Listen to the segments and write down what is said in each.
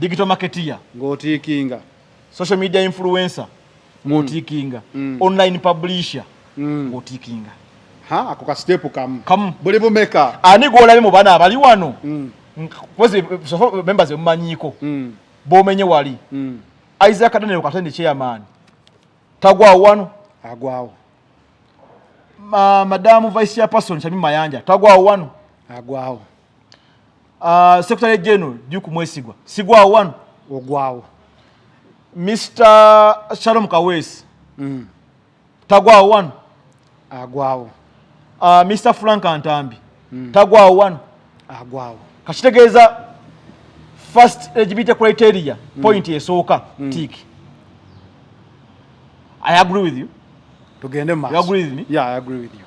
digital marketeer ng'otiikinga social media influencer ng'otiikinga mm. mm. online publisher mm. ng'otiikinga ha ako ka step kamu kamu buli bumeka ani gw'olabye mu bana abali wano mm. kozi sofo members emumanyiiko mm. b'omenye wali mm. isaac daniel katende chairman tagwawo wano agwawo Ma, madamu vice chairperson kyami mayanja tagwawo wano agwawo Uh, Secretary General Duke Mwesigwa sigwa wano ogwawo Mr. Shalom Kawesi mm. tagwa wano agwawo uh, ah, Mr. Frank Antambi mm. tagwa wano agwawo kakitegeeza first eligibility criteria mm. point esooka mm. tik I agree with you tugende mu maaso you agree with me yeah I agree with you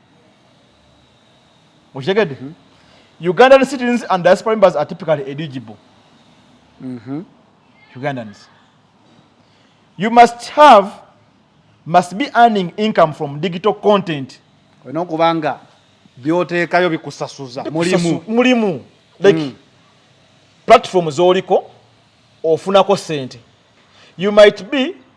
okitegedde mm -hmm. ugandan citizens and diaspora members are typically eligible mm -hmm. ugandans you must have must be earning income from digital content olina okuba nga byoteekayo bikusasuza mulimu mulimu like mm. platform zoliko ofunako sente you might be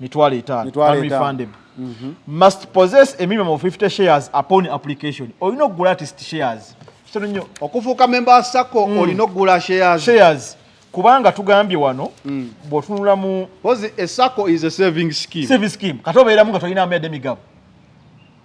mitwalo etaano family fund emu mhm. must possess a minimum of 50 shares upon application olina okugula artist shares kitono nnyo okufuuka memba wa sacco mm. olina okugula shares shares kubanga tugambye wano mm. bwotunula mu was a sacco is a saving scheme saving scheme kati obeeramu nga tolina amayadde migabo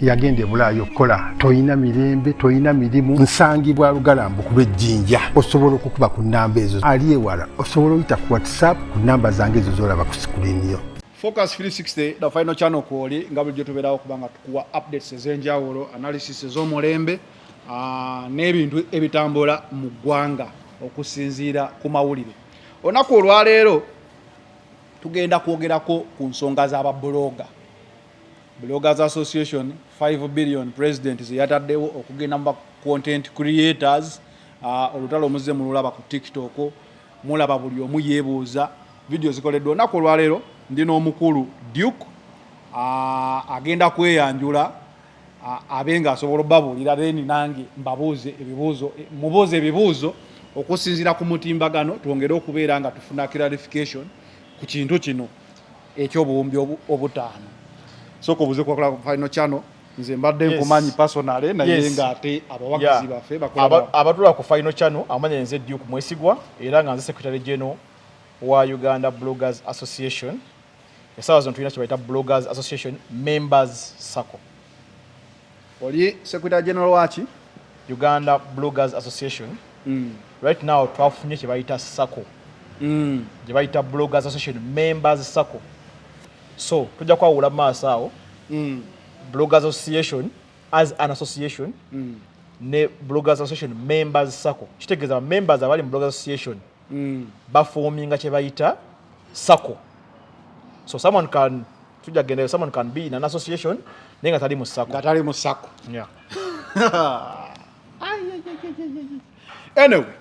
yagenda ebulaayo okukola tolina mirembe tolina mirimu nsangibwa lugalambu ku lwejjinja osobola okukuba ku namba ezo ali ewala osobola oyita ku whatsapp ku namba zange ezo zolaba ku sikuliiniyo focus 360 the final channel kwoli nga bulijjo tubeerawo kubanga tukuwa updates ez'enjawulo analysis ez'omulembe ah, n'ebintu ebitambula mu ggwanga okusinziira ku mawulire olunaku olwaleero tugenda kwogerako ku nsonga z'ababuloga Bloggers Association 5 billion president zeyataddewo okugenda mu content creators uh, olutalo omuzze mululaba ku tiktok mulaba buli omu yebuuza vidiyo zikoleddwa olunaku olwaleero ndi n'omukulu duke uh, agenda kweyanjula uh, abe nga asobola obabuulira then nange mbabuuze ebibuuzo mubuuze ebibuuzo okusinziira ku mutimbagano twongere okubeera nga tufuna clarification ku kintu kino ekyobuwumbi obutaano soka obuze kwakola ku final channel nze mbadde nkumanyi personale naye nga ate abawagizi baffe abatula ku final channel amanya enze duke mwesigwa era nga nze secretary general wa uganda bloggers association esaawa zino tulina kyebayita bloggers association members sacco oli secretary general waki uganda bloggers association mm. right now twafunye kyebayita sako mm. gyebayita bloggers association members sako so tujja kwawula maaso awo mm. bloggers association as an association mm. ne bloggers association members sako kitegeeza members abali mu bloggers association mm. bafoominga kyebayita sako so someone can tujja gendayo someone can be in an association naye nga tali mu sako nga tali mu sako yeah anyway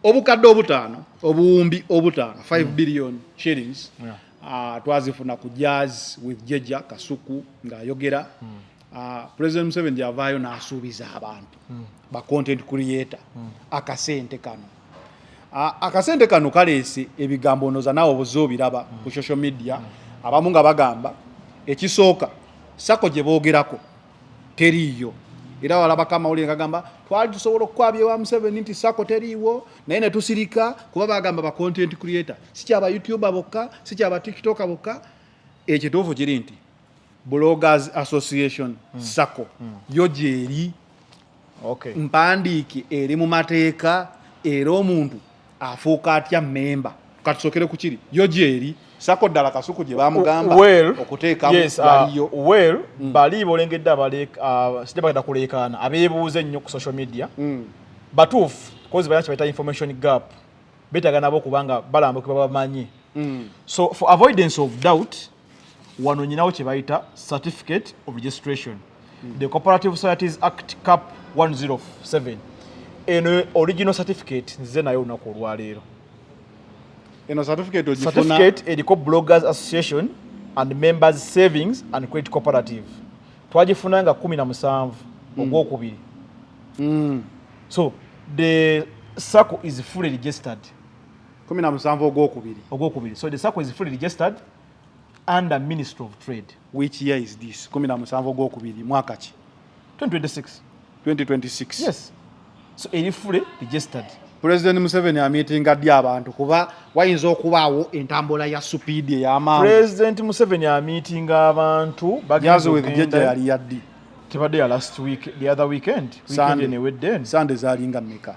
obukadde obutaano obuwumbi obutaano 5 mm. billion shillings yeah. uh, twazifuna ku jazz with jeja kasuku ng'ayogera mm. Ah, president museveni gyavaayo n'asuubiza abantu hmm. ba content creator hmm. akasente kano ah, akasente kano kaleese ebigambo onoza naawe obuze obiraba hmm. ku social media abamu nga bagamba ekisooka sako gye boogerako teriiyo era walabako amawulire ngagamba twali tusobola okukwabya ewa museveni nti sako teriiwo naye ne tusirika kuba bagamba ba content creator sikyaba youtuber bokka sikyaba tiktoka bokka ekituufu kiri nti Bloggers Association mm. sako mm. yo gyeri okay. mpandiike eri mu mateeka era omuntu afuuka atya memba katusokere ku kiri yo gyeri sako ddala kasuku gye bamugamba okuteekamu yes, uh, baliyo uh, well mm. bali bolengedde uh, sijja bagenda kuleekaana abeebuuza ennyo ku social media mm. batuufu kozi balina kyebayita information gap betaaga nabo kubanga balambukibwa bamanyi mm. so for avoidance of doubt wano nyinawo kye bayita certificate of registration mm. the cooperative societies act cap 107 eno original certificate nzize nayo olunaku olwaleero eno certificate ogifuna certificate eriko bloggers association and members savings and credit cooperative twagifuna nga kumi na musanvu mm. ogwokubiri mm. so the sacco is fully registered kumi na musanvu ogwokubiri ogwokubiri so the sacco is fully registered under ministry of trade which year is this kumi na musanvu ogwokubiri mwaka ki 2026 2026 yes so eri fully registered president museveni amitinga ddi abantu kuba wayinza okubaawo entambula ya supiidi ey'amaanyi president museveni amitinga abantu bagendaja yali yaddi tebadde ya last week the other weekend weekend enewedde sande zalinga meka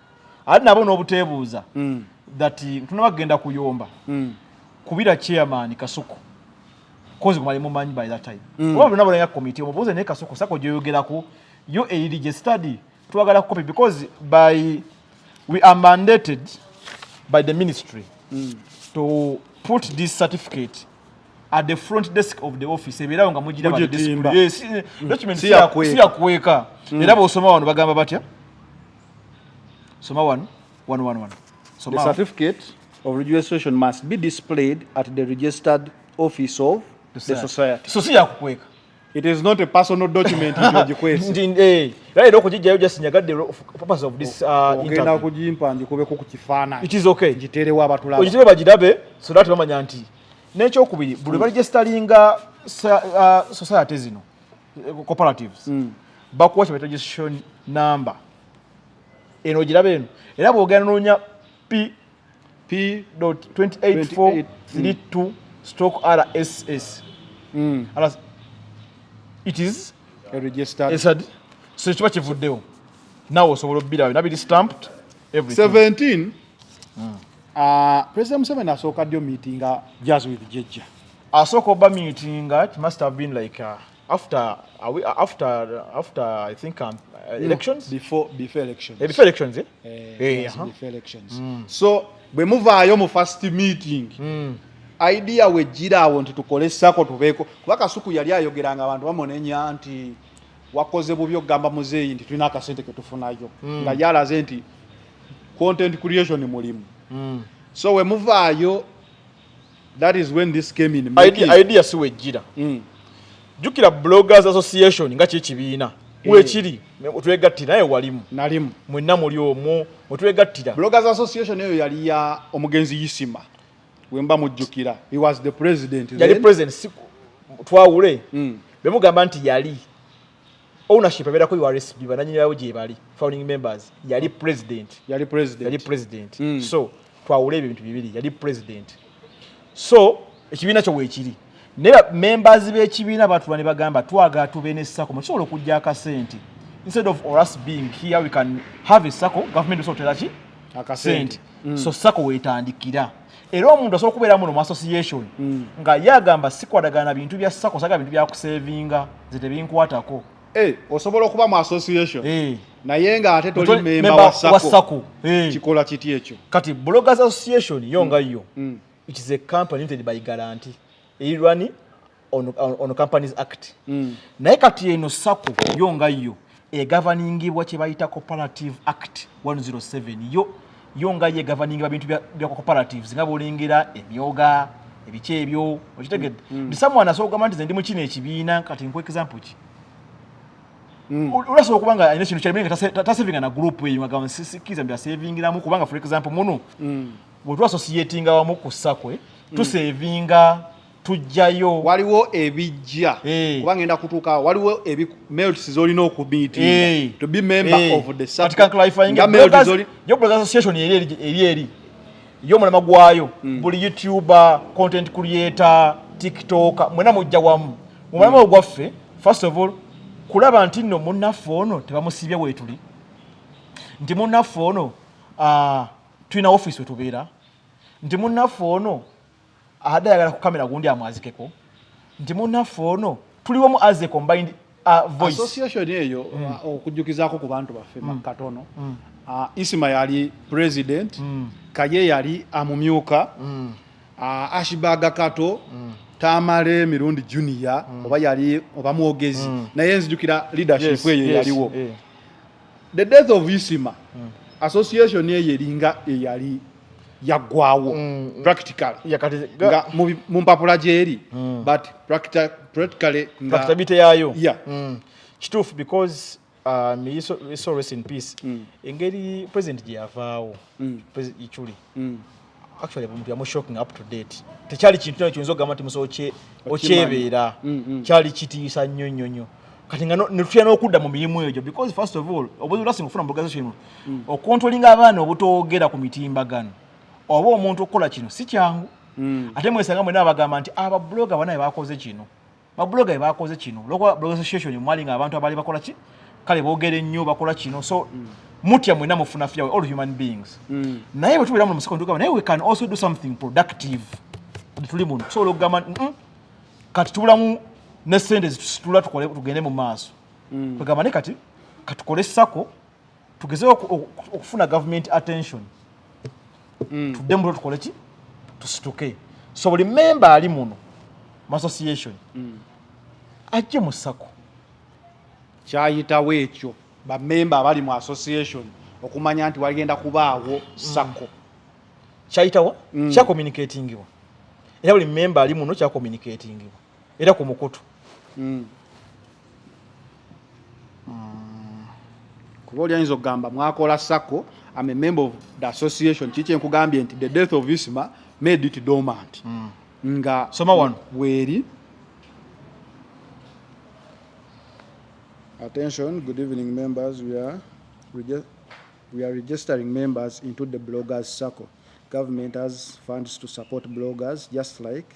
ali nabo n'obuteebuuza mm. that ntunaba kugenda kuyomba mm. kubira chairman kasuku kozi kumali mumanyi by that time mm. oba lunabo lanya committee omubuuze naye kasuku sako gyoyogerako yo eyiri gye study twagala copy because by we are mandated by the ministry mm. to put this certificate at the front desk of the office eberawo nga mujira ba display yes mm. document si yakweka mm. era bosoma wano bagamba batya soma wano wano wano wano the certificate of registration must be displayed at the registered office of the society so si yakukweka it is not a personal document nti ogikwese nti eh right okujijjayo just nyagadde purpose of this uh, interview ogenda kujimpa njikubeko ku kifaananyi it is okay njiterewo abatulaba ogitere bagidabe so that bamanya nti n'ekyokubiri buli baregisteringa uh, society zino eh, cooperatives mm. bakuwa kye registration number eno ogiraba eno era bwogenda noonya p p 284 32 stock rss mm. alas it is a registered, registered. so kiba kivuddewo nawe osobola obubirabyo nabiri stamped everything 17 mm. uh, president museveni asooka ddi omiitinga jazz with jejja asooka oba miitinga it must have been like uh, after uh, we, uh, after uh, after I think um, uh, elections no, before before elections yeah, before elections eh yeah, eh, yeah, eh, uh -huh. before elections mm. so bwe muvaayo mu first meeting mm. idea wejjira awo nti tukole sako tubeeko kuba kasuku yali ayogeranga abantu bamunenya nti wakoze bubi okugamba muzeeyi nti tulina akasente ketufunayo mm. nga yalaze nti content creation mulimu mm. so wemuvaayo that is when this came in idea, idea si wejjira mm. jukira bloggers association nga kyekibiina eh. wekiri otwegattira naye walimu nalimu mwenna muli omwo otwegattira bloggers association eyo yali ya omugenzi yisima wemba mujjukira he was the president yali president si twawule mm. bemugamba nti yali ownership abeera ku URSB bananyini bawo gye bali founding members yali president yali president yali president mm. so twawule ebyo bintu bibiri yali president so ekibiina kyo weekiri naye members b'ekibiina batula ne bagamba twagala tube ne sako mukisobola okujja akasente instead of or us being here we can have a sako government osobola otera ki akasente mm. so sako wetandikira era omuntu asobola okubeera muno mu association mm. nga ye agamba sikwatagana bintu bya sako saga bintu byakusevinga nze tebinkwatako hey, eh, osobola okuba mu association hey. Eh. naye nga ate toli memba wa sako hey. Eh. kikola kiti ekyo kati bloggers association yo nga yo mm. mm. which is a company limited by guarantee eri rwani on, on, on companies act mm. naye kati eno sako yo nga yo egavaningibwa kyebayita cooperative act 107 yo yo nga ye egavaningibwa bintu bya cooperatives nga bolengera emyoga ebiki ebyo okitegedde mm. mm. ndisamwana asobola okugamba nti ze ndi mu kino ekibiina kati nkuwa example ki Mm. ulasobola okuba nga alina kintu kyalimu nga tasevinga na gurupu eyo nga gamba sikkiriza nti asevingiramu kubanga for example muno mm. bwe twasosiyetinga wamu ku sakwe hmm. tusevinga tujjayo waliwo ebijja eh. kuba ngenda kutuuka waliwo melts zolina okumiitinga eh. to be member eh. of the association eri eri yo mulama gwayo hmm. buli youtuber content creator tiktoker mwena mujja wamu mumulama hmm. ogwaffe first of all kulaba nti nno munnaffe ono tebamusibye weetuli nti munnaffe ono ah, tulina ofiisi we tubeera nti munnaffe ono adde ayagala kukamera gundi amwazikeko nti munnaffe ono tuliwo mu aze combined uh, voice association eyo mm. uh, okujjukizako ku bantu baffe mm. makatono mm. uh, isima yali president mm. kaye yali amumyuka mm. uh, ashibaga kato mm. tamale mirundi junior mm. oba yali oba mwogezi mm. naye nzijukira leadership eyo yes, yaliwo yes, yeah. the death of isima mm. association eyo eringa eyali yaggwawo mm, mm. practical nga mu mpapula gyeri mm. but practically nga bite yayo yeah. mm. kituufu because um, so rest in peace mm. engeri president gyeyavaawo mm. president ichuli mm. actually omuntu yamu shocking up to date tekyali kintu kyona kiyinza okugamba nti musobo okyebeera mm, mm. kyali kitiisa nnyo nnyo nnyo kati nga netutya n'okudda mu mirimu egyo because first of all obuzibu lasi mufuna mbogazo kino mm. okontrolinga abaana obutoogera ku mitimbagano oba omuntu okukola kino si kyangu ate mwesanga mwena abagamba nti ababuloga banaye bakoze kino babuloga be bakoze kino olwokuba blog association mwali nga abantu abaali bakola ki kale boogere nnyo bakola kino so mm. mutya mwena mufuna fya all human beings mm. naye bwe tubeera mu musiko ntugamba naye we can also do something productive tuli muno tusobola okugamba kati tubulamu ne sente zitula tugende mu maaso mm. tugamba ne kati katukole sako tugezeyo okufuna government attention mm. tudde mulo tukole ki tusituke so buli memba ali muno mu association mm. ajje mu sako kyayitawo ekyo bamemba abali mu association okumanya nti wagenda kubaawo sako mm. kyayitawo mm. kyakomunikatingibwa era buli memba ali muno kyakomunikatingibwa era ku mukutu mm. mm. kuba oli ayinza okugamba mwakola sako am a member of the association kiki nkugambye nti the death of isma made it dormant mm. nga soma wano weeri attention good evening members we are we are registering members into the bloggers circle government has funds to support bloggers just like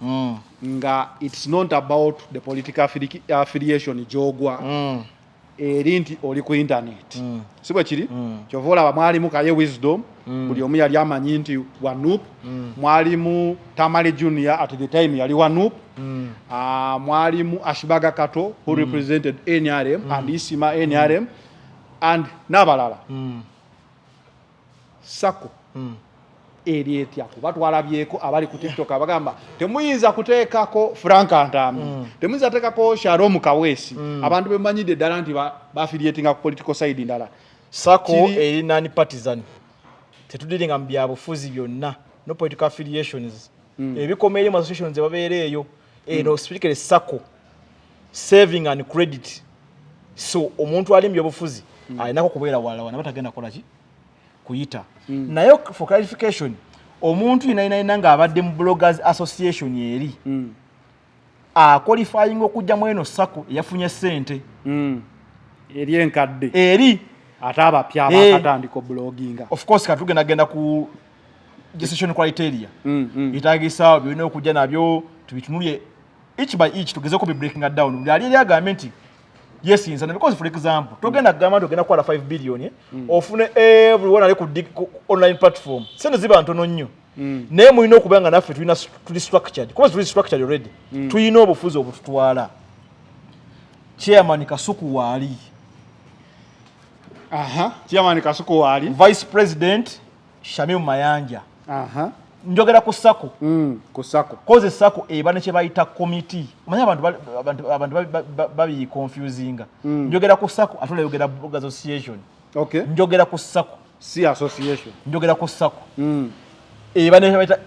mm. nga it's not about the political affiliation gyogwa mm. eri nti oli ku internet mm. si bwe kiri mm. kyova olaba mwalimu kaye wisdom mm. buli omu yali amanyi nti wanup mm. mwalimu tamale junior at the time yali wanup mm. uh, mwalimu ashibaga kato who mm. represented nrm mm. and isima nrm mm. and n'abalala mm. sako eri etya kuba twalabyeko abali ku tiktok abagamba temuyinza kuteekako frank ntambi mm. temuyinza kuteekako sharom kawesi mm. abantu bemanyidde ddala nti bafiliatinga ku political side ndala sako eri nani partisan tetudiringa mu byabufuzi byonna no political affiliations mm. ebikoma eri mu associations ebabeera eyo eno mm. specifically sacco saving and credit so omuntu ali mubyobufuzi mm. alinako kubeera walawana batagenda kolaki kuyita mm. naye for clarification omuntu yinayinayina nga abadde mu bloggers association eri mm. aqualifying okujja mweno sacco eyafunye sente mm. eri enkadde eri ate abapya eh. abakatandika obuloginga of course katugenda genda ku decision criteria mm, mm. itagisa byona okujja nabyo tubitunulye each by each tugeze ko breaking it down byali yali agambe nti yes inza because for example togenda mm. gamba togenda kwala 5 billion eh? mm. ofune everyone ali ku online platform sente ziba ntono nnyo mm. naye mulina okuba nga naffe tulina tuli structured because tuli structured already mm. tulina obufuzi obututwala chairman kasuku waali aha chairman kasuku waali vice president Shamim Mayanja aha njogera ku sako mm, ku sako koze sako eba ne kyebayita committee manya abantu abantu abantu babi confusinga mm. njogera ku sako atule yogera boga association okay njogera ku sako si association njogera ku sako mm. eba ne kyebayita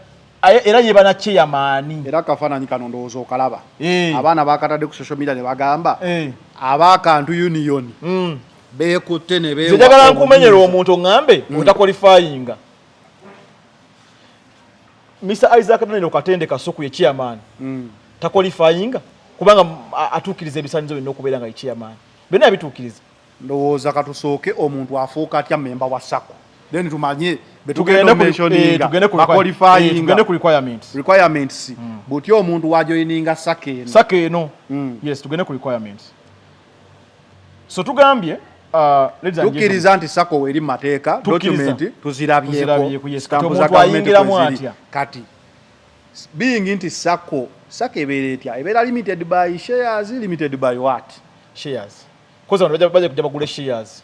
era ye bana kye yamani era kafana ni kanondo ozo kalaba hey. Eh. abana bakatade ku social media ne bagamba hey. Eh. abakantu union mm. beekutte ne beewa njagala nkumenyera omuntu oŋŋambe mm. otakolifayinga mr isaac daniel katende kasuku ye chairman mm. takolifayinga kubanga atuukiriza ebisanyizo byonna okubeera nga ye chairman byonna yabituukiriza ndowooza katusooke omuntu afuuka atya memba wa sako then tumanye betugenda eh, ku requirements mm. butya omuntu wajoininga sako eno sako eno mm. yes tugende ku requirements so tugambye uh, tukiriza nti sako weri mateeka dokumenti tuzirabyekotambuzagavumentikweziri atya kati being nti sako sako ebeera etya ebeera limited by shares limited by what shares kozi abantu baja kuja bagule shares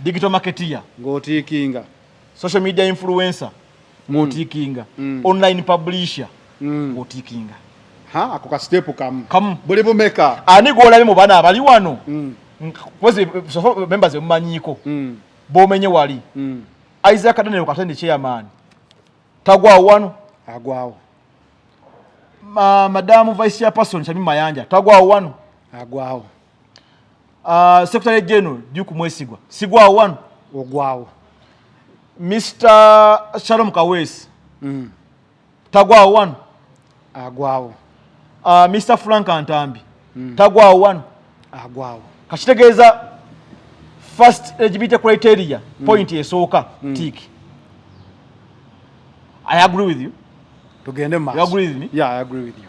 digital marketeer ng'otiikinga social media influencer ng'otiikinga mm. mm. online publisher mm. ng'otiikinga ha ako ka step kamu kamu buli bumeka ani gw'olabye mu bana abali wano mm. kwezi sofo members emumanyiiko mm. b'omenye wali mm. isaac daniel katende chairman tagwawo wano agwawo Ma, madamu vice chairperson kyami mayanja tagwawo wano agwawo Uh, Secretary General Duke Mwesigwa sigwa wano ogwawo Mr. Shalom Kawesi mm. tagwa wano agwawo uh, ah, Mr. Frank Antambi mm. tagwa wano agwawo kakitegeeza first eligibility criteria mm. point esooka mm. tik I agree with you tugende mu maaso. You agree with me? Yeah, I agree with you.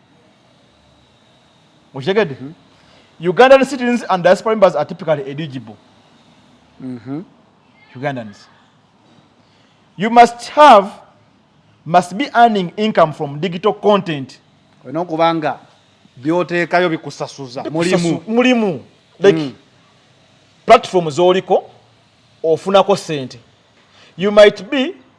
mukitegedde mm -hmm. ugandan citizens and diaspora members are typically eligible mm -hmm. ugandans you must have must be earning income from digital content olina okuba nga byoteekayo bikusasuza mulimu mulimu like mm. platform zoliko ofunako sente you might be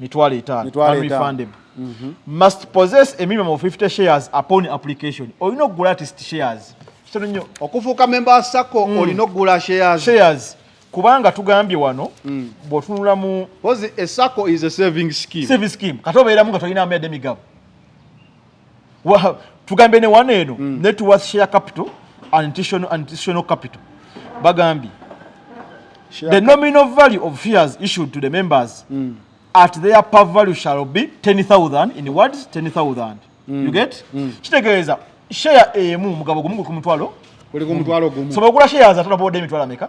mitwalo etaano family fundable mhm. must possess a minimum of 50 shares upon application olina okugula artist shares kitono nnyo okufuuka memba wa sacco mm. olina okugula shares shares kubanga tugambye wano mm. bwotunula mu was a sacco is a saving scheme saving scheme kati obeeramu nga tolina amayadde migabo tugambe ne wano eno mm. net worth share capital and additional, additional capital bagambye the nominal value of shares issued to the members mm. at their per value shall be 10000 in words 10000 mm. you get mm. kitegeeza share emu mugabo gumu ku mutwalo so bagula shares atano boda emitwalo ameka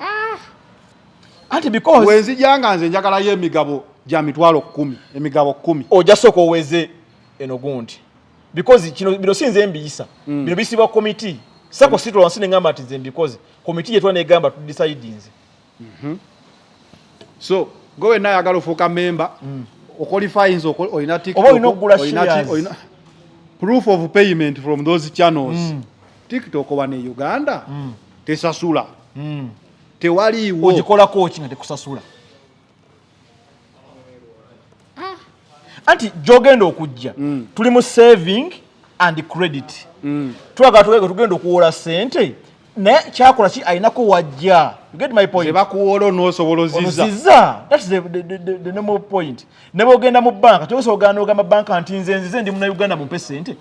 ah! anti because wenzija nga nze njagalayo emigabo gya mitwalo kkumi emigabo kkumi oja sooka oweze eno gundi because kino bino si nze mbiyisa mm. bino bisibwa komiti sako mm. situla wansi ne ngamba nti nze mbikoze komiti yetwa negamba tudisaidinze mm -hmm. so gwe wenna ayagala ofuuka memba mm. oqualifyins olina tiktok olina proof of payment from those channels mm. tiktok wano e uganda mm. tesasula mm. tewaliiwo ogikolako ki nga tekusasula ah. anti gyogenda okujja mm. tuli mu saving and credit mm. twagala tuwege tugenda okuwola sente naye kyakola ki alinako wajja you get my point bakuwola onosobolozizza that's the, the, the, the, the normal point ne bwogenda mu banka toyinza ogana ogamba banka nti nze nzize ndi muna uganda mumpe sente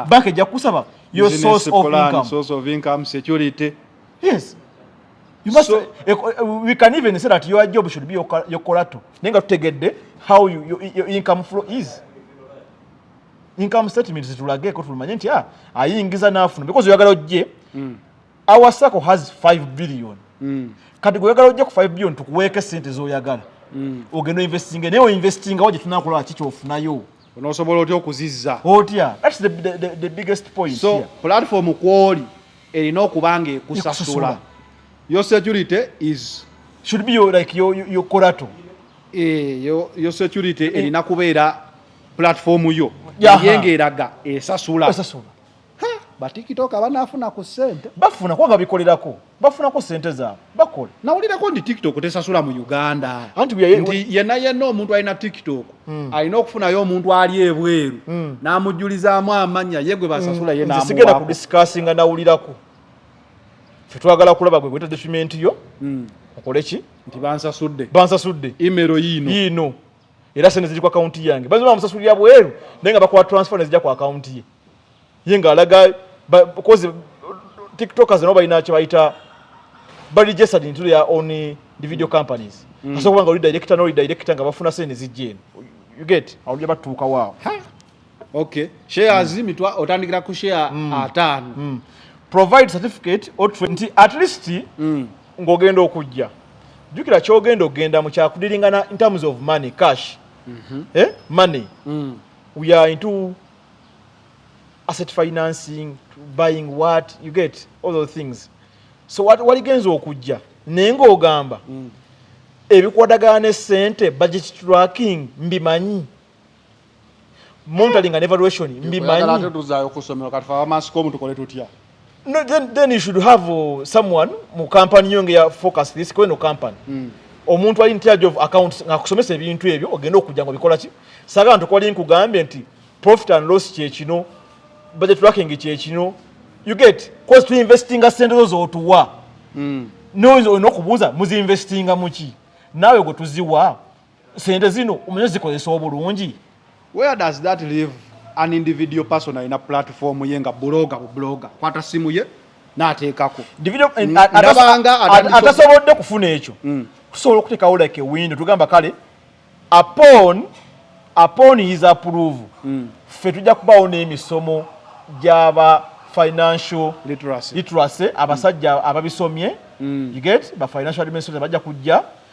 banka ejja kukusaba your source of income source of income security yes you must so, uh, we can even say that your job should be your, your collateral naye nga tutegedde how you, your, your income flow is income statement zitulageko tulumanye nti ah, ayingiza nafuna because oyagala ojje mm. our sacco has 5 billion mm. kati gweyagala ojja ku 5 billion tukuweeko esente zoyagala mm. ogenda oinvestinga naye oinvestingawo gyetunakulaba ki kyofunayo onosobola otya okuzizza otya thats the, the, the, the biggest point so here. platform kwoli erina okuba nga ekusasula your security is should be your, like your, your, your corato e, eh, your, your security eh. erina kubeera platform yo yeah. yenga eraga esasula, esasula. batikitoka banafuna ku sente bafuna kuba babikolerako bafuna ku sente zaabwe bakola nawulirako nti tiktok tesasula mu uganda anti nti yena yena omuntu alina tiktok mm. alina okufunayo omuntu ali ebweru mm. namujulizaamu amanya yegwe hmm. basasula mm. yenasigenda ku discussinga nawulirako fetwagala kulaba gwe gweta document yo mm. okoleki nti bansasudde bansasudde imero yiino yiino era sente ziri ku akawunti yange bayinza oba bamusasulira bweru naye nga bakola transfer nezija ku akawunti ye ye ng'alaga kozi tiktokers nabo balina kye bayita baregistered into their own eh, the video mm. companies mm. asobola kuba nga oli director n'oli director nga bafuna sente zijja eno you get awo gye batuukawo awo Okay. Shares mm. mitwa otandikira ku share mm. atano. Mm. Provide certificate or 20 at least mm. ngogenda okujja. Jukira kyogenda ogenda mu kyakudiringana in terms of money cash. Mm -hmm. Eh? Money. Mm. We are into asset financing, buying what, you get all those things. So what what against okujja? Nengo ogamba. Mm. Ebikwatagana ne sente budget tracking mbimanyi. monitoring and evaluation mbimanyi ate tuzayo kusomero kati fa mask omu tukole tutya no then then you should have uh, someone mu company yonge ya focus this kweno company mm. omuntu ali in charge of accounts ngakusomesa ebintu ebyo ogenda okujja ngo bikola ki saga ntu kwali nkugambye nti profit and loss kye kino budget tracking kye kino you get cost to investing a sente zo otuwa mm. no is no kubuza muzi investing amuki nawe go tuziwa sente zino omanyi zikozesa obulungi where does that live an individual person alina platform ye nga buloga bu buloga kwata simu ye nateekako mm, atasobodde kufuna ekyo mm. tusobola okuteekawo like ewindo tugamba kale upon upon his approve mm. ffe tujja kubawo n'emisomo gyaba financial literacy abasajja ababisomye you get ba financial administration bajja kujja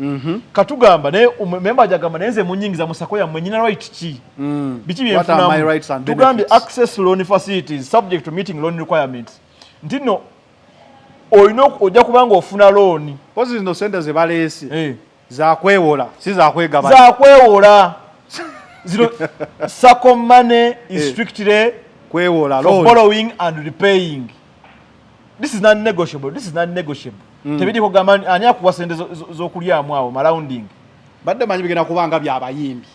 Mhm. Katugamba naye um, member ajagamba naye nze munyingiza musako yamwe nyina right ki? Mm. Biki bye mfunamu? Tugambi access loan facilities subject to meeting loan requirements. Ntino olina ojja kubanga ofuna loan. Pozi zino sente ze baleese. Eh. Za kwewola, si za kwegabanya. Za kwewola. Zino sako money is eh. strictly kwewola loan. For borrowing and repaying. this is not negotiable this is not negotiable mm. tebidi ko gamba ani akuwa sente zokulya amu awo marounding badde manyi bigena kubanga bya bayimbi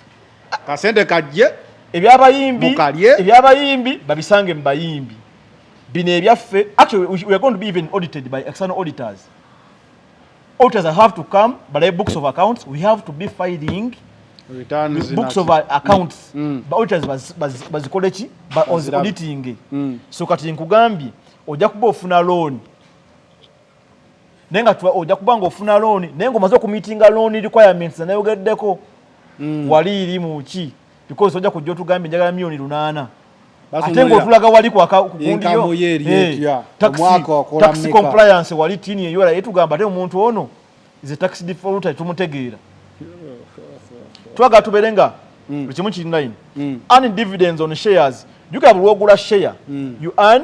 kasente kajje ebya bayimbi ebya bayimbi babisange mu bayimbi bino ebyaffe actually we are going to be even audited by external auditors auditors have to come but the books of accounts we have to be filing returns books of accounts mm. mm. but auditors bas bas bas college but on the auditing mm. so kati nkugambi oja kuba ofuna loan nenga tuwa oja kuba ngo ofuna loan nengo mazo ku meeting loan requirements na yogeddeko mm. wali iri mu chi because ojja kujja otugambye njagala milioni lunaana ate ngaotulaga wali kwakundiyotaxi eh, compliance wali tini eyora yetugamba ate omuntu ono is a tax defaulter tumutegeera twagala tubeere nga mm. kimu kirinaine mm. an dividends on shares jukira bulwogula share mm. you earn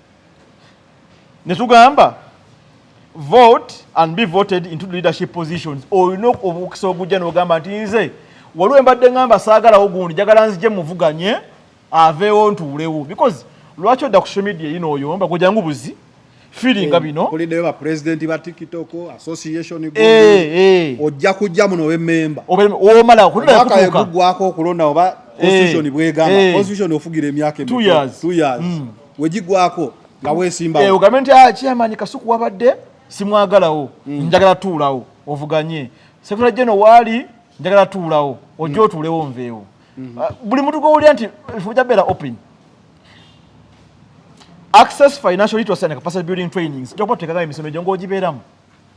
ne tugamba vote and be voted into the leadership positions olina obukisa ogujja nogamba nti nze waliwo embadde ngamba saagalawo gundi jagala nzije muvuganye aveewo ntuulewo because lwaki odda ku social media yino oyomba gwejangu buzi firinga eh, bino kulideyo ba president ba tiktok association group eh, eh. ojja kujja muno we member omala kulira kutuka mwaka yegugwako okulonda oba eh, constitution bwegamba eh. constitution ofugira emyaka 2 years 2 years mm. wegigwako nga wesimbawo eh, ogambe nti ah, chairman kasuku wabadde simwagalawo mm. njagala tuulawo ovuganye sekula jeno waali njagala tuulawo ojja mm. otuulewo nveewo mm. ah, buli muntu gwowulira nti ebifo byabeera open access financial literacy and capacity building trainings jokuba tutekagayo emisomo egyo ngaogibeeramu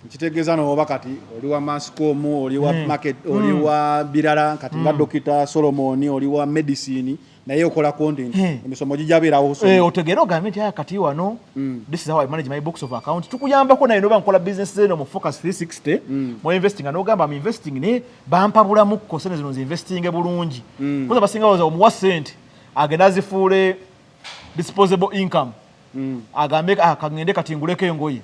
nkitegeeza nooba kati oli wa mascom oli wa market oli wa birala kati nga dokita solomoni oli wa medicine naye okola content hey. emisomo gijabeerawo hey, eh, otegeera ogambye nti aya kati wano mm. this is how i manage my books of account tukuyambako naye noba nkola business zeno mu focus 360 mm. mu investing nga nogamba am investing ne bampabulamukko sente zino nziinvestinge bulungi mm. kuza basinga waza omuwa sente agenda azifuule disposable income mm. agambe ah, kagende kati nguleko engoye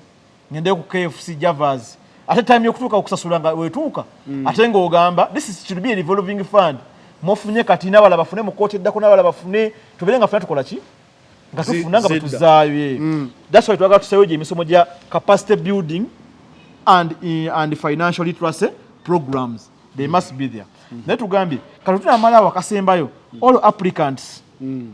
ngende ku KFC Javas ate time yokutuuka okusasula nga wetuuka mm. ate ng'ogamba this is should be a revolving fund mufunye kati n'abala bafune mu kkooti eddako n'abala bafune tubeere nga funa tukola ki nga tufuna nga bwetuzaayo eh. mm. that's why twagala tusayo gye emisomo gya capacity building and, eh, and financial literacy programs they mm. must be there mm. naye tugambye kati tunamalawo akasembayo mm. all applicants mm.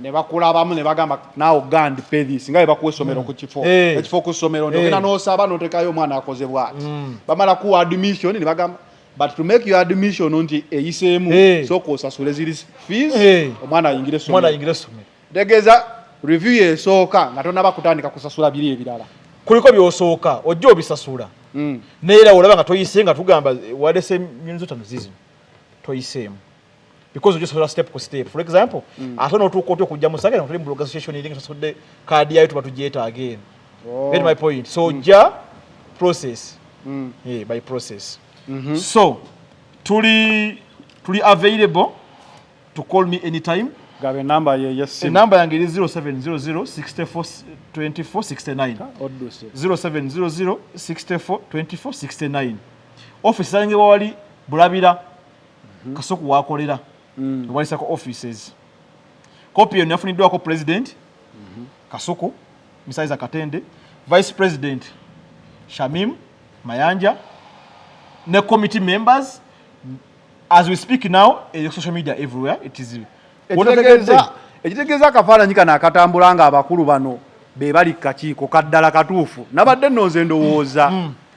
ne bakulabamu ne bagamba naawe gandi pedis nga bwe bakuwa essomero mm. ku kifo eh. ekifo ku ssomero eh. nogenda n'osaba n'otekayo omwana akoze bwati mm. bamala kuwa admission ne bagamba but to make your admission nti eyiseemu eh. sooka osasule ziri fees omwana ayingire essomero tegeeza review yesooka nga tonaba kutandika kusasula biri ebirala kuliko byosooka ojja obisasula mm. naye era olaba nga toyise nga tugamba wadese nyonzi otano zizino toyiseemu because just for step ku step for example mm. ate no tuko to kujja musaka no tuli mu association ilinga sasude card yayo tuba tujeta again oh. get my point so mm. ja process mm. yeah, by process mm -hmm. so tuli tuli available to call me anytime gabe number ye yes sim number yange ni 0700642469 0700642469 office yange wali bulabira mhm. kasuku wakolera mm. walisako offices kopi eyo nafuniddwako president mhm. kasuku misaiza katende vice president shamim mayanja ne committee members as we speak now e social media everywhere it is ekitegeeza akafaananyi kano akatambula nga abakulu bano be bali ku kakiiko kaddala katuufu nabadde nno nze ndowooza mm.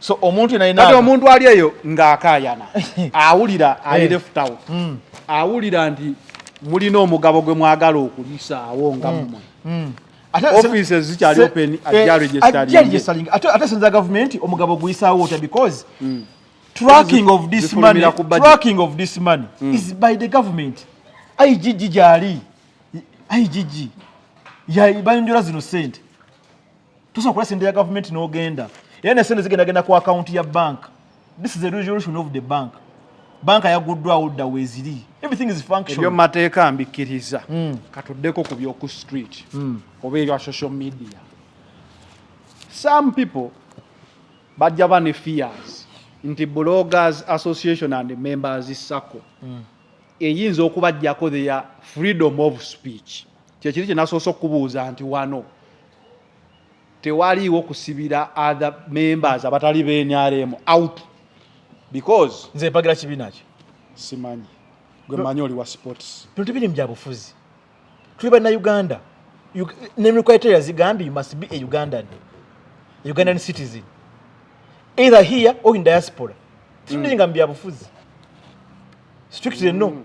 so omuntu yenayina kati omuntu ali eyo ng'akaayana awulira eh. ali left out hmm. awulira nti mulina omugabo gwe mwagala okulisaawo nga hmm. mmwe hmm. offices zikyali open ajja eh, registering ate sinza gavumenti omugabo guyisaawo otya because tracking of this money tracking of this money is by the government igg gyali igg bayonjola zino sente tusobola okulasa ente ya gavumenti n'ogenda era nesente zigendagenda ku akawunti ya bank this is a resolution of the bank banka yaguddwawo dda weeziri everything is function ebyo mateeka mbikkiriza mm. katuddeko ku byoku street mm. oba ebya social media some people bajja ba ne fears nti bloggers association and members sacco mm. eyinza okubajjako their freedom of speech kyekiri kyenasoose okukubuuza nti wano tewaliiwo kusibira other members abatali benrm out because nze mpagira kibiina ki simanyi gwe manyi oli wa sports bino tebiri mu byabufuzi tuli bannauganda nemikwaitera zigambye you must be a ugandan a ugandan citizen either here or in diaspora titulinga mm. mu byabufuzi strictly no mm.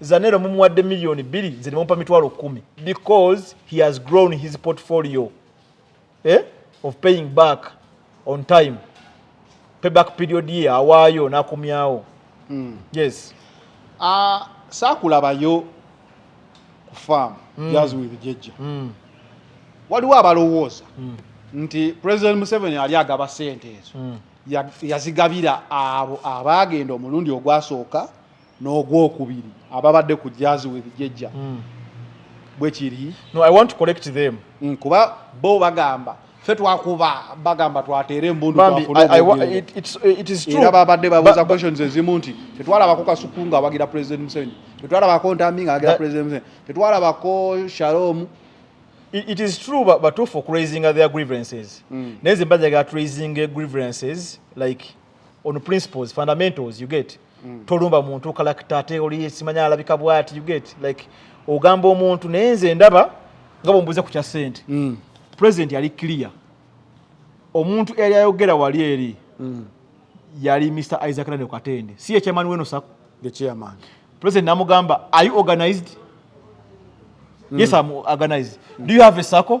Zanero mumuwadde million bili nze nimumpa mitwalo kumi because he has grown his portfolio eh? of paying back on time payback period ye awaayo nakumyawo mm. yes uh, ah, sakulabayo ku farm mm. jazz with jejja mm. waliwo abalowooza mm. nti president museveni ali agaba sente ezo mm. yazigabira abo abaagenda omulundi ogwasooka n'ogwokubiri ababadde ku jazz with jejja hmm. bwekiri no i want to collect them mm, kuba bo bagamba fe twakuba bagamba twateera embundu era babadde babuuza questions ezimu nti tetwalabako kasuku nga awagira president museveni tetwalabako ntambi nga awagira president museveni tetwalabako shalom it is true batuufu okuraisinga their grievances mm. naye zimbajaga turaising grievances like on principles fundamentals you get mm. tolumba muntu kalakita ate oli simanya alabika bwati you get like ogamba omuntu naye nze ndaba nga bwembuuza ku kya sente mm. president yali clear omuntu eyali ayogera wali eri mm. yali mr isaac nane katende si ye chairman weno sako the chairman president namugamba are you organized mm. yes am organized mm. do you have a sako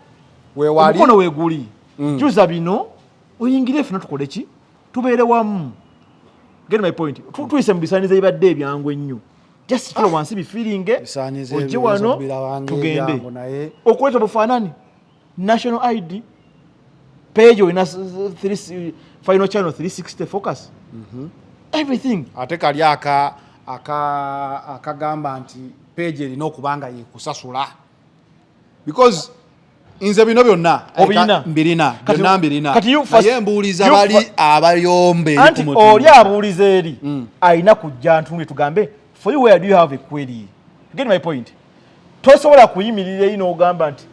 omukono weguli mm. juza bino oyingire fena tukole ki tubeere wamu get my point tuyise mu bisaaniza ebibadde ebyangu ennyo just kikula ah. wansi bifiringe ojje wano tugende okuleeta bufaanani national id page olina final channel 360 focus mhm. everything ate kali aka akagamba nti page erina okuba nga yekusasula because nze bino byonna mbirina byonna mbirina naye mbuuliza bali abayombe anti oli abuuliza eri mm. alina kujja ntunge tugambe for you where do you have a query get my point tosobola kuyimirira eyi n'ogamba nti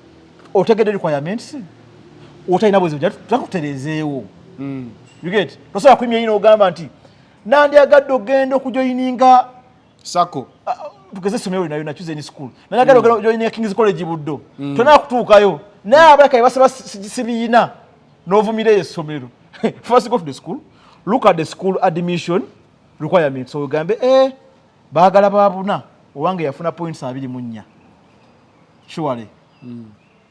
otegedde requirements otalina bwezi takuterezeewo mm. you get tosobola kuyimirira eyi n'ogamba nti nandyagadde ogenda okujoyininga sako ah, tugeze somero linayo nacuze ni school naye agala ogala join ya kings college buddo mm. tona kutuukayo naye abaka ibasaba sibiyina novumira esomero first go to the school look at the school admission requirement so ugambe eh bagala babuna owange yafuna points abiri munya surely mm.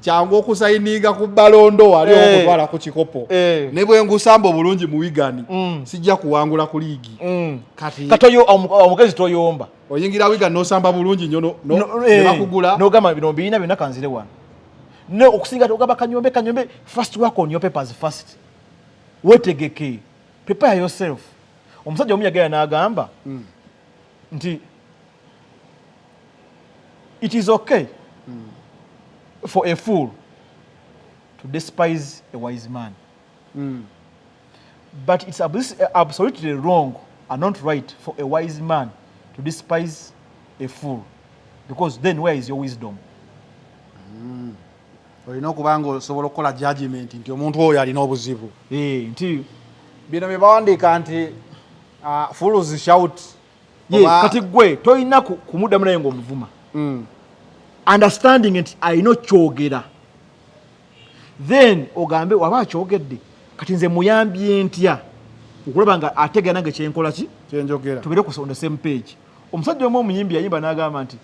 kyangu okusayininga ku balondo wali hey. Eh. okutwala ku kikopo hey. Eh. ne bwe ngusamba obulungi mu wigani mm. sijja kuwangula ku liigi mm. kati katoyo omukezi toyomba oyingira wiga nosamba bulungi nyo no, no, no, eh. nebakugula nogamba bino mbiyina byonna kanzire wano ne okusinga togamba kanyombe kanyombe first work on your papers first wetegeke prepare yourself omusajja omu yagera n'agamba mm. nti it is okay mm. for a fool to despise a wise man mm. but it's absolutely wrong and not right for a wise man to despise a fool because then where is your wisdom mm. olina okuba nga osobola okukola judgment nti omuntu oyo alina obuzibu eh, nti bino byebawandiika nti uh, fools shout kati gwe tolina kumuddamu naye ngaomuvuma mm. understanding nti alina okyogera then ogambe waba akyogedde kati nze muyambye ntya okulaba nga ategera nange kyenkola ki kyenjogera tubere ku on the same page omusajja omu omuyimbi yayimba n'agamba nti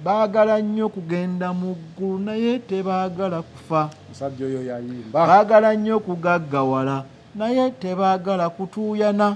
baagala nnyo okugenda mu ggulu naye tebaagala kufa musajja oyo yayimba baagala nnyo okugaggawala naye tebaagala kutuuyana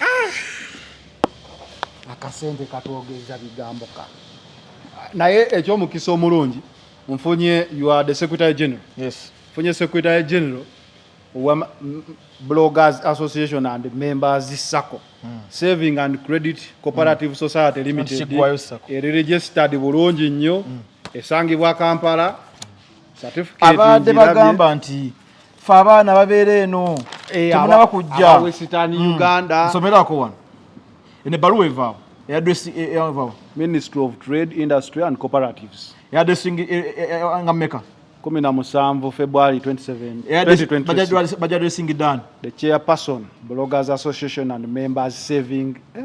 Ah! akasente katwogeza bigambo ka naye ekyomukisa omulungi nfunye you are the secretary general yes nfunye secretary general wa bloggers association and members sacco hmm. saving and credit cooperative hmm. society limited eri registered bulungi nnyo hmm. esangibwa kampala abadde bagamba nti ffe abaana babeera eno eh, temunaba kujja hmm. uganda nsomerako wano eno ebbaluwa evaawo eyadresivaawo eh, eh, ministry of trade industry and cooperatives eyadresingi nga meka kumi na musanvu february 27 bajadresingi dan the chairperson bloggers association and members saving eh?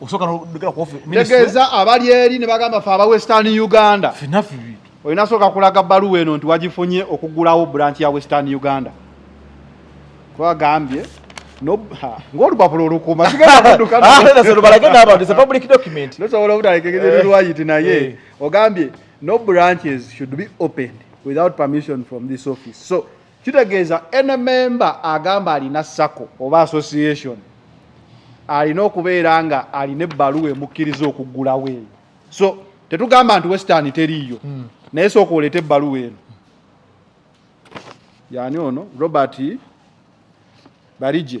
osooka nogera ku office tegeeza abali eri ne bagamba fe aba western uganda finafi bintu olina sooka kulaga baluwa eno nti wagifunye okugulawo branch ya western uganda kwagambye ng'olupapula olukuma sigendakudukabalage n'abantu is a public document nosobola obutalekegere lwayiti naye eh. ogambye no branches should be opened without permission from this office so kitegeeza any member agamba alina sako oba association alina okubeera nga alina ebbaluwa emukkiriza okuggulawo eyo so tetugamba nti western teriiyo hmm. naye sooka oleeta ebbaluwa eno yani ono robert barije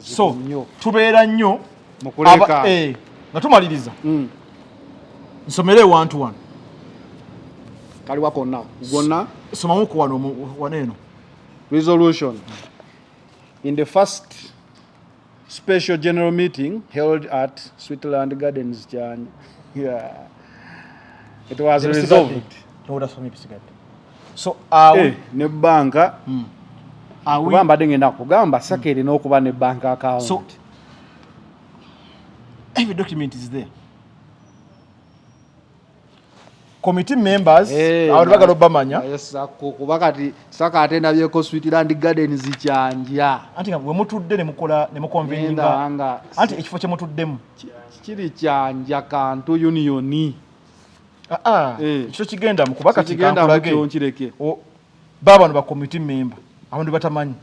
so tubeera nnyo eh, nga tumaliriza hmm. nsomere ewantu wano kaliwa konna gonna somamu ku wano wano eno resolution in the first special general meeting held at switzerland gardens jan yeah. it was resolved so awo eh, ne banka mm. kuba mbadde ngenda kugamba saka hmm. erina okuba ne bank account so, every document is there committee members eh, awo bagala obamanya kuba kati saka ate nabyeko sweetland garden zikyanja anti nga wemutudde nemukola nemukonveninga anti ekifo kyemutuddemu kiri kyanja kantu unioni ah, ah. Eh. ekyo kigenda mu kuba kati kankulage baabano bakomiti memba abantu batamanyi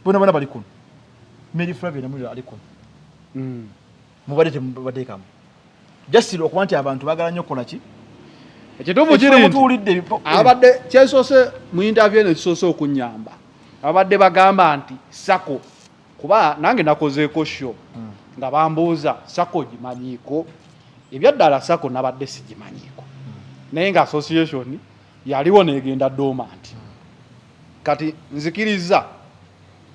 bona bona bali kuno mary flavia namulira ali kuno mm. mubadde temubadekamu jasiro okuba nti abantu bagala nnyo okukola ki ekituufu kiri nti abadde kyesoose mu interview eno ekisoose okunyamba abadde bagamba nti sako kuba nange nakozeeko sho hmm. nga bambuuza sako gimanyiiko ebyaddala sako nabadde sigimanyiiko hmm. naye nga association yaliwo negenda dormant hmm. kati nzikiriza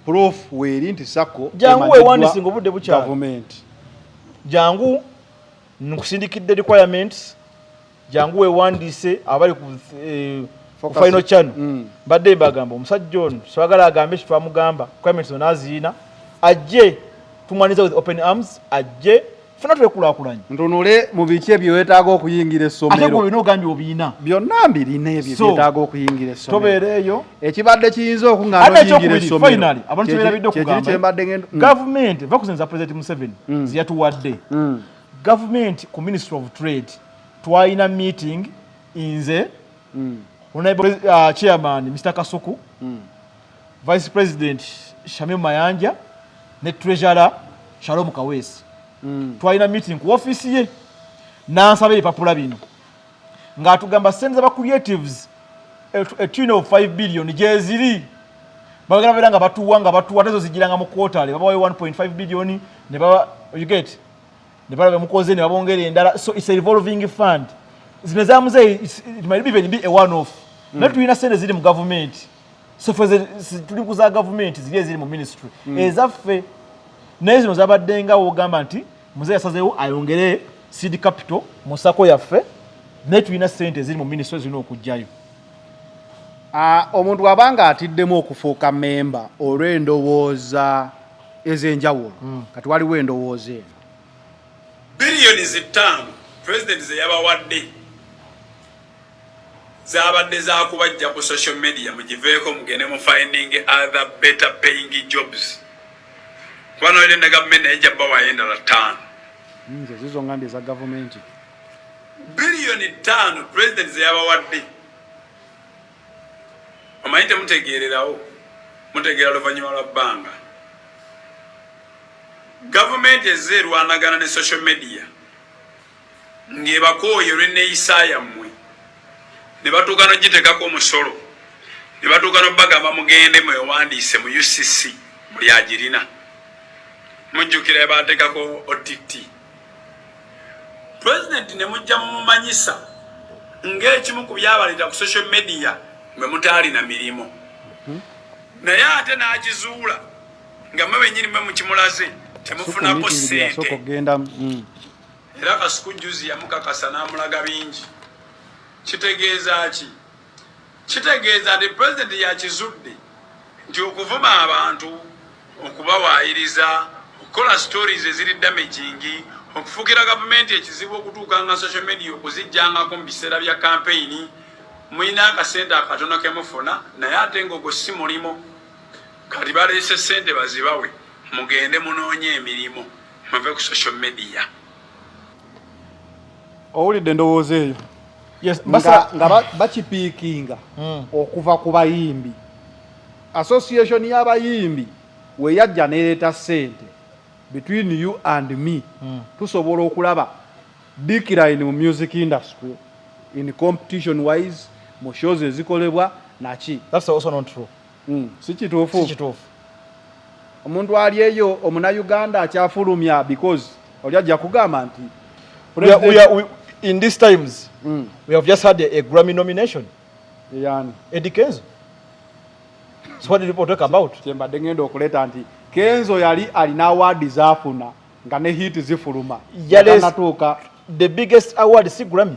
proof weeri nti sako jangu wewandisinga obudde bukyagavumenti jangu nkusindikidde requirements jangu wewandiise abali ku eh, final channel mm. mbadde mm. mbagamba omusajja ono swagala agambe kitwamugamba comments ono aziina ajje tumwaniza with open arms ajje funa twekulakulanye ntunule mu biki ebyo wetaaga okuyingira essomero olina ogambye obiina byonna mbirina ebyo byetaaga okuyingira essomero tobeereeyo ekibadde kiyinza okuŋaaoyingira essomerofinally abantu kyebirabidde okugamba mm. gavumenti vakusinza president museveni mm. zeyatuwadde Government ku Ministry of Trade twalina meeting inze mm. Honorable uh, Chairman Mr. Kasuku mm. Vice President Shamim Mayanja ne Treasurer Shalom Kawesi mm. twalina meeting ku office ye n'ansaba ebipapula bino ng'atugamba sente zaba creatives etune of 5 billion gyeziri bagala beera nga batuwa nga batuwa tezo zijiranga mu quarterly babawayo 1.5 billion ne baba you get ne bala bemukoze ne babongera endala so it's a revolving fund zino za muzeeyi it might even be a one off mm. naye tulina sente ziri mu gavumenti so fe tuli ku za gavumenti ziri eziri mu ministry mm. ezaffe naye zino zabadde nga wogamba nti muzeeyi asazeewo ayongere seed capital mu sako yaffe naye tulina sente eziri mu ministry zirina okugjayo ah, omuntu abanga atiddemu okufuuka memba olw'endowooza ez'enjawulo mm. kati waliwo endowooza eno biliyoni zittaano pulezidenti ze yabawadde zabadde zakubajja ku social media mugiveeko mugende mu finding other better paying jobs kuba noire ne gavumenti naye jabawayo endala ttaano nze zizo ngambye eza gavumenti biliyoni ttaano pulezidenti ze yabawadde omanyi temutegeererawo mutegeera luvannyuma lwa bbanga gavumenti ezze erwanagana ne social media ng'ebakooye olw'enneeyisa yammwe ne batuuka n'okugiteekako omusolo ne batuuka n'okubagamba mugende mwewandiise mu ucc buli agirina mujjukira baateekako otti president ne mujja mumumanyisa ng'ekimu ku byabaleeta ku social media mwe mutaalina mirimu hmm? naye ate n'akizuula nga mwe benyini mwe mukimulaze temufunako sente hmm. era kasuku juzi yamukakasa n'amulaga bingi kitegeeza ki Kitegeeza nti Pulezidenti yakizudde nti okuvuma abantu, okubawaayiriza, okukola stories eziri damaging, okufuukira gavumenti ekizibu okutuukanga social media okuzijjangako mu biseera bya kampeyini mulina akasente akatono ke mufuna naye ate ngaogwo si mulimu kati baleese sente bazibawe mugende munoonye emirimu muve ku social media owulidde endowooza eyo nga bakipiikinga hmm. okuva ku bayimbi association y'abayimbi weyajja nereeta sente between you and me hmm. tusobola okulaba decline mu music industry in competition wise mu shows ezikolebwa naki that's also not true mm. si kituufu omuntu ali eyo omuna uganda akyafulumya because oli ajja kugamba nti we are, we are, in these times mm. we have just had a, a grammy nomination yani edi kenzo so what did people talk about kyembadde ngenda okuleta nti kenzo yali alina awaadi zafuna nga ne hit zifuluma yanatuuka the biggest award si grammy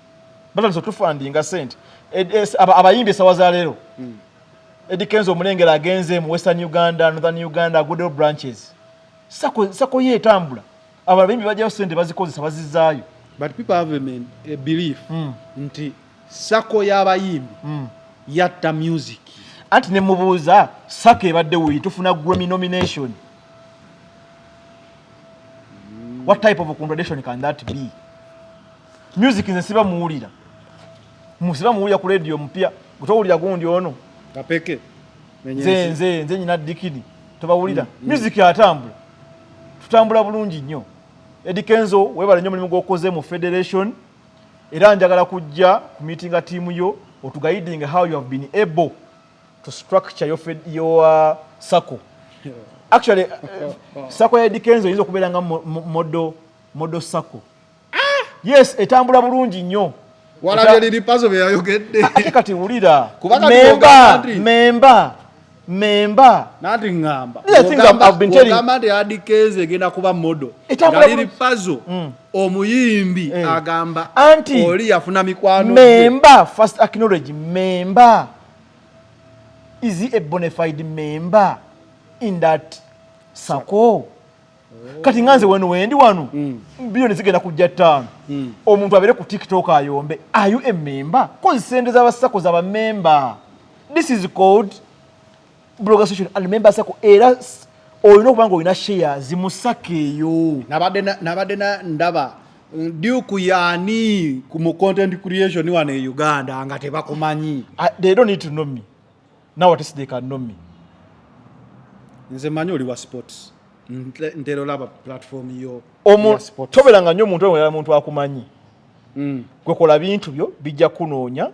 batandise otufandinga sente abayimbi esawa za leero hmm. edi kenzo omulengera agenze mu western uganda northern uganda agudeo branches sako ye etambula abo abayimbi bajjayo sente bazikozesa bazizaayo but people have a belief hmm. nti sako y'abayimbi hmm. yatta music anti nemubuuza sako ebadde wuyi tufuna grammy nomination what type of a contradiction can that be Music nze siba muwulira. Musiba muwulira ku radio mpya. Gutowulira gundi ono. Kapeke. Nze nze nze nyina dikidi. Tobawulira. Mm, mm. Music yatambula. Tutambula bulungi nnyo. Eddie Kenzo webale nnyo mulimu gw'okoze mu federation era njagala kujja ku meetinga tiimu yo otugaiding how you have been able to structure your, fed, your uh, sacco actually uh, sacco ya Eddie Kenzo eyinza okubeera nga modo modo sacco ah! yes etambula bulungi nnyo walabye lili pazo beyayogedde ah, ate kati wulira memba memba memba nati ngamba ogamba nti adikeze egenda kuba modo nga lili pazo mm. omuyimbi eh. agamba anti oli yafuna mikwano memba first acknowledge memba is he a bona fide member in that sako kati nga nze wano wendi wano mm. biliyoni zigenda kujja ttaano mm. omuntu abeere ku tiktok ayombe ayu ememba kozi sente zabasako zaba memba this is called blogasation and memba sako era olina okuba nga olina sheya zimusaka eyo nabadde ndaba duku yani mu content creation wano e uganda nga tebakumanyi ah, they don't need to know me now what is they can know me nze manyi oli wa sports ntero laba platform yo omu tobela nga nyo muntu oyo muntu akumanyi mm. gwe kola bintu byo bijja kunoonya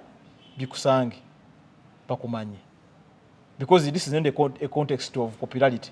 bikusange bakumanyi because this is not a context of popularity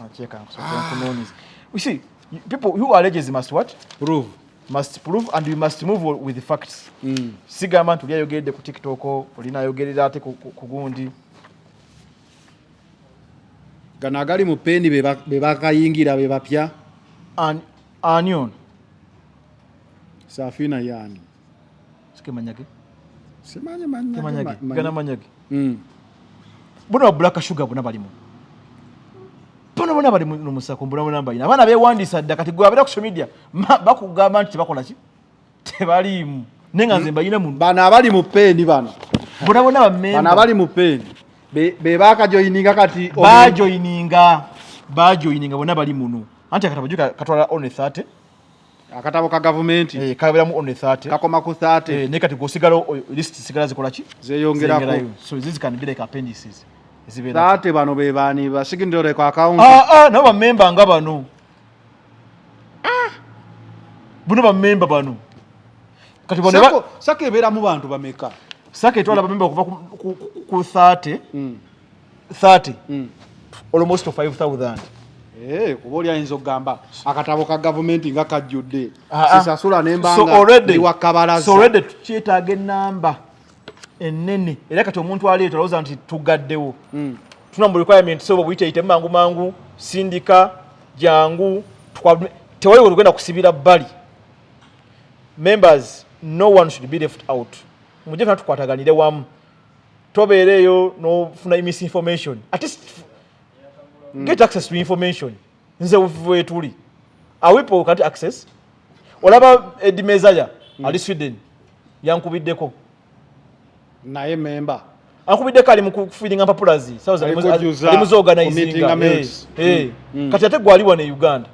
Unacheka kwa sababu ah. kunoni. You see, people who alleges must what? Prove. Must prove and you must move with the facts. Mm. Sigamba nti yayogedde ku TikTok, olina ayogerera ate ku gundi. Gano agali mu pendi be bakayingira be bapya. Ani ono? Safina yani. sikemanyage simanyi manyage gana manyage hmm. bona ba black sugar bona balimu bona bona bali mu musako mbona bona bayina abana bewandisa dda kati gwe abera ku social media bakugamba nti bakola ki tebaliimu naye nga nze mbayina mu bano abali mu peeni bano bona bona bamemba bano abali mu peeni be bakajoyininga kati bajoyininga bajoyininga bona bali muno anti akatabajuka katwala one 30 akatabo ka gavumenti eh, kaberamu on the 30 kakoma ku 30 eh, nekati gwosigala list sigala zikola ki zeyongerako so this can be like appendices zibera 30 bano be bani ba secondary kwa account ah ah nabo ba member nga bano ah buno ba member bano kati bano sako sako ebera mu bantu bameka sako etwala ba member kuva ku 30 mm. 30 mm. almost 5000 Eh, kuba oli ayinza okugamba akatabo ka gavumenti nga kajjudde ah, ah. sisasula nembangawakkabalazaolwedde tukyetaaga enamba enene era kati omuntu aleeta olowooza nti tugaddewo hmm. tuna mu requirement sobo buyiteyite mangu mangu sindika jangu tewali olugenda kusibira bbali members no one should be left out mujje fena tukwataganire wamu tobeera eyo nofuna misinformation at least mm. get access to information nze wetuli awipo kati access olaba edi mezaya mm. ali sweden yankubiddeko naye memba ankubiddeko ali mukufiringa mpapulazi eh, eh. mm. kati ate gwali wano e uganda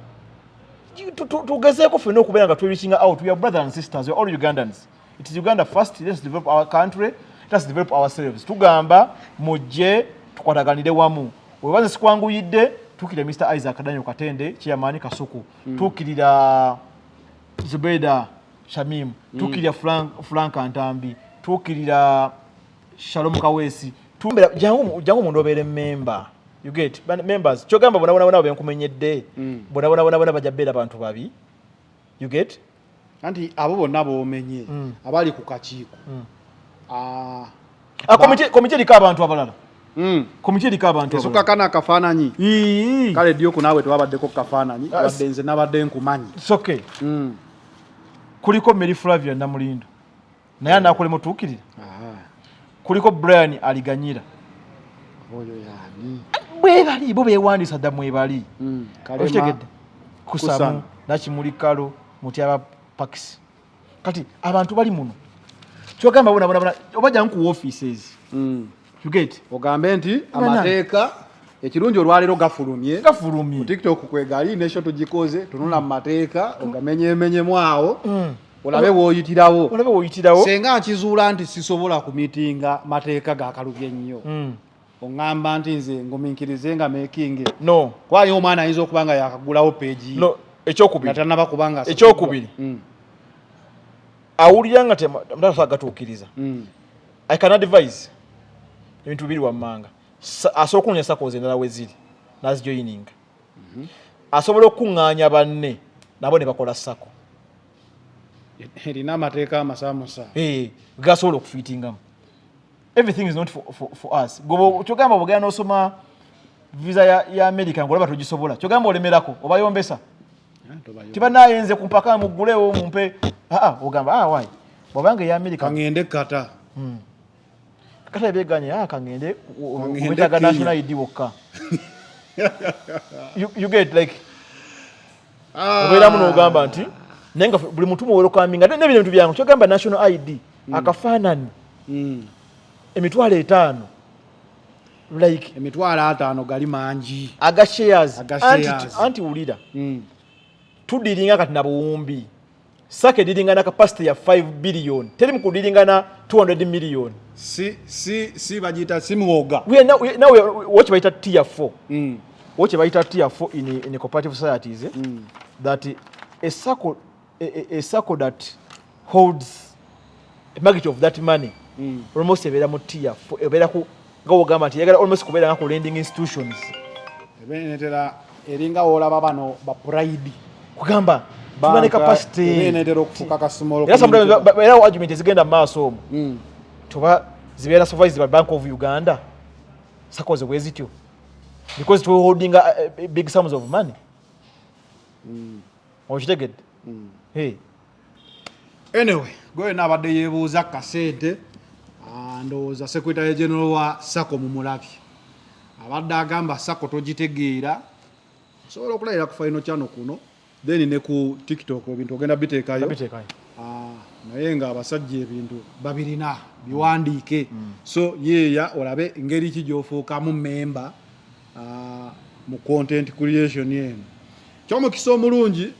tugezeeko fena okubeera nga twereaching out we are brothers and sisters we are all ugandans it is uganda first let's develop our country let's develop ourselves tugamba mujje tukwataganire wamu webaze sikwanguyidde tukire mr isaac daniel katende kiyamaani kasuku mm. tukirira zubeda shamim mm. tukirira frank, frank antambi tukirira shalom kawesi tumbera jangu jangu mundu obere member you get but members chogamba bona bona bona benkumenyedde mm. bona bona bona bona bajabera abantu babi you get anti abo bonna bomenye mm. abali ku kakiiko mm. ah, ah, komiti eriko abantu abalala mm. komiti eriko abantu esuka kana akafaananyi kale ddi oku naawe tewabaddeko kukafaananyi ah, wadde nze nabadde nkumanyi kuliko mary flavia namulindo naye anaakola mutuukirira kuliko brian aliganyira oyo yani bwebali bo bewandiisa dda mwebali hmm, okitegedde kusamu nakimuli kalo mutyaba pakisi kati abantu bali muno kyogamba bonabona oba jangu ku offices hmm. ogambe nti amateeka ekirungi olwaleero gafulumye gafulumye ku tiktok kwegali nekyo tugikoze tunula mu mateeka ogamenyemenyemu awo mm. olabe woyitirawo olabe woyitirawo senga nkizuula nti sisobola kumitinga mateeka gakalubye ennyo mm. oŋŋamba nti nze nguminkirize nga making no kwayo omwana ayinza okuba nga yakagulawo peegi no ekyokubiri atanaba kubanga ekyokubiri mm. awulira nga temutasa gatuukiriza mm. I can advise ebintu biri wammanga asobola okunoonya sakozi endala we ziri nazijoyininga mhm. asobola okukuŋŋaanya banne nabo ne bakola sako erina amateeka amasamusa eh, gasobola okufitingamu everything is not for, for, for us gobo kyogamba bugenda nosoma visa ya, ya america ngolaba togisobola kyogamba olemerako obayombesa tibanaye nze kumpaka mugulewo mumpe ah, ah, ogamba ah, wai bwabanga eya amerika kangende kata hmm. kata ebeganye kangende wetaga national id wokka you get like obeeramu nogamba nti naye nga buli muntu muwerokaminga nebino bintu byangu kyogamba national id hmm. akafaanani hmm. emitwalo etaano like emitwalo ataano gali mangi aga shares anti wulira hmm. tudiringa kati na buwumbi saka ediringana kapasite ya 5 billion teri mu kudiringana 200 million si si si bagiyita si mwoga nawe woki bayita tier 4 hmm. woki bayita tier 4 in, in cooperative societies eh? mm. that esako a, a, a circle that holds a magnitude of that money mm. almost ebeera mu tier ebeera ku nga wogamba nti yagala almost kubeera nga ku lending institutions ebenetera eringa wolaba bano ba pride kugamba tubane capacity ebenetera okufuka kasumolo era sometimes era argument ezigenda maaso omu mm. tuba zibeera supervised by bank of uganda sakoze bwezityo because tuwe holding a, uh, a uh, big sums of money mm. okitegedde hmm. anyway gweyona abadde yebuuza kasente ah, ndowooza secretary general wa sako mumulabye abadde agamba sako togitegeera osobola okulayira ku final channel kuno then ne ku tiktok ebintu ogenda biteekayo ah, naye nga abasajja ebintu babirina biwandiike mm. so yeeya olabe ngeri ki gyofuukamu memba uh, mu content creation eno kyomukisa omulungi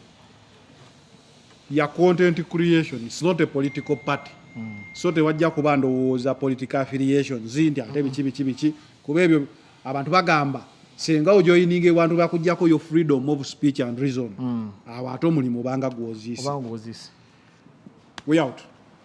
ya content creation it's not a political party mm. so tewajja kuba ndowooza political affiliation zinti ate biki biki biki kuba ebyo abantu bagamba senga ojoininga ewantu bakujjako yo freedom of speech and reason mm. awo ate omulimu obanga gwozisi we out